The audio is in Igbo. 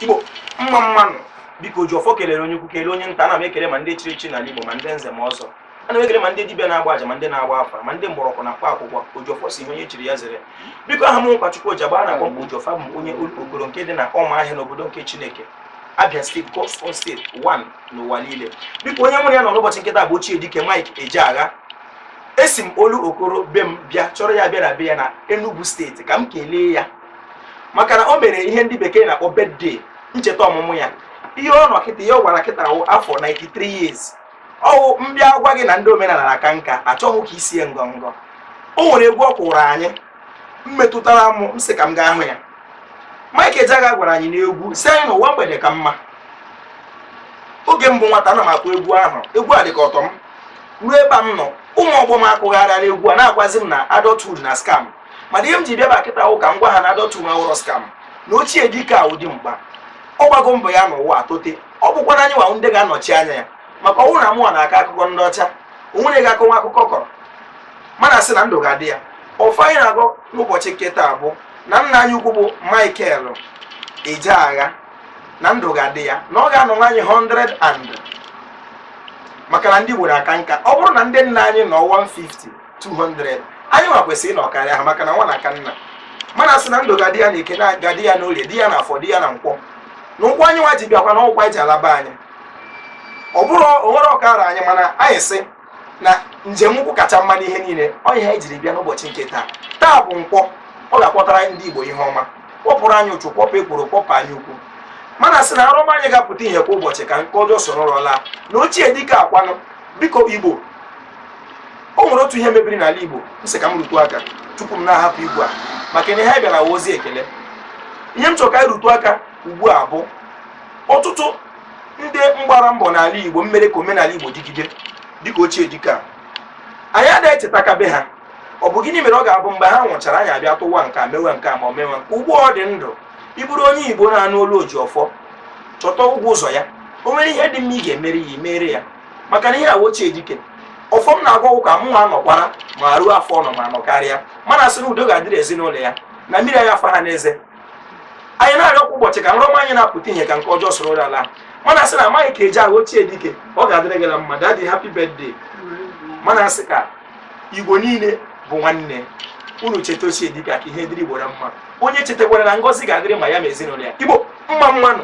igbo mma mmanụ biko oji ọfọ kelere onye ukwu kelee onye nta ana m ekele ma ndị chiri echi n'ala igbo ma ndị nze ma ọzọ ana m ekele ma ndị dibịa na-agba aja ma ndị na-agba afa ma ndị mgbọrọgwụ na mkpa akwụkwọ ojiọfọ si ihe onye chiri ya zere biko aha m ugochukwu oji agba na-akpọ m kwa ojiọfọ bụ onye olokoro nke dị na ụmụahịa n'obodo nke chineke abia steeti god's own steeti 1 n'ụwa niile biko onye mụ na ya nọ n'ụbọchị nke taa bụ ochie dike mike ejeagha esi m olokoro be m bịa chọrọ ya bịa na be ya na enugu steeti ka m kelee ya maka na o mere ihe ndị bekee na-akpọ birthday ncheta ọmụmụ ya ihe ọ nọ kịta ihe ọ gbara kịta wụ afọ 93 years ọ wụ m bịa gwa gị na ndị omenala na-aka nka achọghị ka isie ngọngọ o nwere egwu ọ kụrụ anyị mmetụtara m m sị ka m gaa hụ ya Mike Ejeagha gwara anyị n'egwu sị anyị na ụwa mgbede ka mma oge m bụ nwata ana m akụ egwu ahụ egwu a dị ka ọ tọ m ruo ebe a m nọ ụmụ ọgbọ m akụgharịala egwu a na-agwazi m na adulthood na scam mana ihe m ji bịa ebe a kịta wụ ka m gwa ha na adulthood awụrọ scam na ochie dike a wụ dimkpa ọ gbago mbọ ya n'ụwa atote ọ bụkwa na anyị nwa wụ ndị ga-anọchi anya ya maka ọ wụrụ na mụwa na-akọ akụkọ ndị ọcha o nwere ga-akọnwu akụkọ ọ kọrọ mana sị na ndụ ga-adị ya ọfọ anyị na-agọ n'ụbọchị nke taa bụ na nna anyị ukwu bụ Michael Ejeagha na ndụ ga-adị ya na ọ ga-anọnwu anyị 100 and maka na ndị Igbo na-aka nka ọ bụrụ na ndị nna anyị nọ 150 200 anyị nwa kwesịrị ịnọ karịa ha maka na nwa na-aka nna mana sị na ndụ ga-adị ya na eke na ọ ga-adị ya na orie dị ya na afọ dị ya na nkwọ na ụkwụ anyị nwa ji bịakwa na ụkwụ anyị ji alaba anyị ọ bụrụ o nwere ọkara anyị mana anyị sị na njem nkwọ kacha mma n'ihe niile ọ ihe anyị jiri bịa n'ụbọchị nke taa taa bụ nkwọ ọ ga-akpọtara ndị igbo ihe ọma kpọpụrụ anyị ụchụ kpọpụ ekworo kpọpụ anya ukwu mana sị na nrọ ọma anyị ga-apụta ihe kwa ụbọchị ka nke ọjọọ soro ụra laa na ochie dike akwanụ biko igbo o nwere otu ihe mebiri n'ala Igbo m sị ka m rutụ aka tupu m na-ahapụ igwe a maka na ihe anyị bịara wụ ozi ekele ihe m chọrọ ka anyị rutụ aka ugbu a bụ ọtụtụ ndị mgbara mbọ n'ala Igbo mmere ka omenala Igbo dịgide dịka ochie dike anyị adịghị echetakabe ha ọ bụ gịnị mere ọ ga-abụ mgbe ha nwụchara anyị abịa tụwa nke a mewe nke a ma o mewe nke ugbu ọ dị ndụ ị bụrụ onye Igbo na-anụ olu oji ọfọ chọta ụgwọ ụzọ ya o nwere ihe dị mma ị ga-emere ya i mere ya maka na ihe a wụ ochie dike ọfọ m na-agọ wụ ka mụ nwa nọkwara ma ruo afọ ọ nọ ma nọ karịa mana sị na udo ga-adịrị ezinụlọ ya na mmiri agaghị afa ha n'eze anyị na-arịọ kwa ụbọchị ka nrọ ọma anyị na-apụta ihe ka nke ọjọọ soro ụra ala mana sị na mike ejeagha ochie dike ọ ga-adịrị gị na mma daddy happy birthday mana sị ka igbo niile bụ nwanne unu cheta ochie dike ka ihe dịrị igbo na mma onye chetakwara na ngọzi ga-adịrị ma ya ma ezinụlọ ya igbo mma mmanụ